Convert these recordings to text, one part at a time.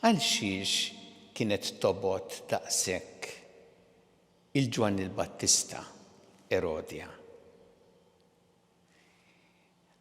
Għalxiex kienet tobgħod daqshekk 'il Ġwanni l-Battista Erodja?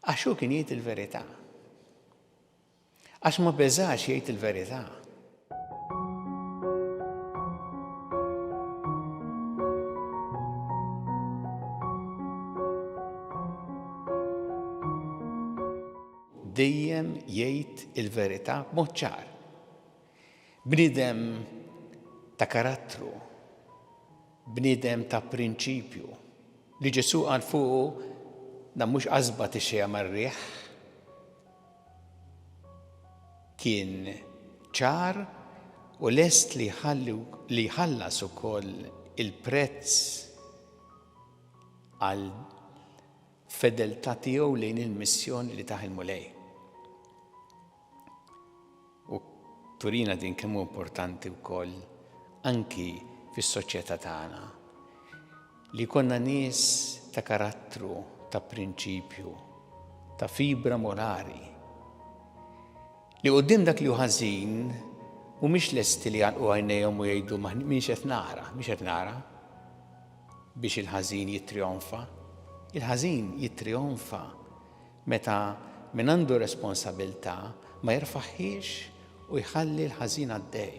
Għax hu kien jgħid il-verità. Għax ma beżax jgħid il-verità. Dejjem jgħid il-verità b'mod ċar. Bniedem ta' karattru, bniedem ta' prinċipju, li Ġesù qal fuqu dan mhux qasba tixxejja mar-riħ. Kien ċar u lest li jħallas ukoll il-prezz għal Fedeltà tiegħu lejn il-missjoni li tah il-Mulej. U turina din kemm hu importanti wkoll anki fis-soċjetà tagħna li jkollna nies ta' karattru, ta' prinċipju, ta' fibra morali li quddiem dak li hu ħażin mhumiex lesti li jgħalqu għajnejhom u jgħidu minx qed nara, mhix qed nara. biex il-ħażin jittrionfa. Il-ħażin jittrionfa meta min għandu responsabilità ma jerfagħhiex u jħalli l-ħażin għaddej.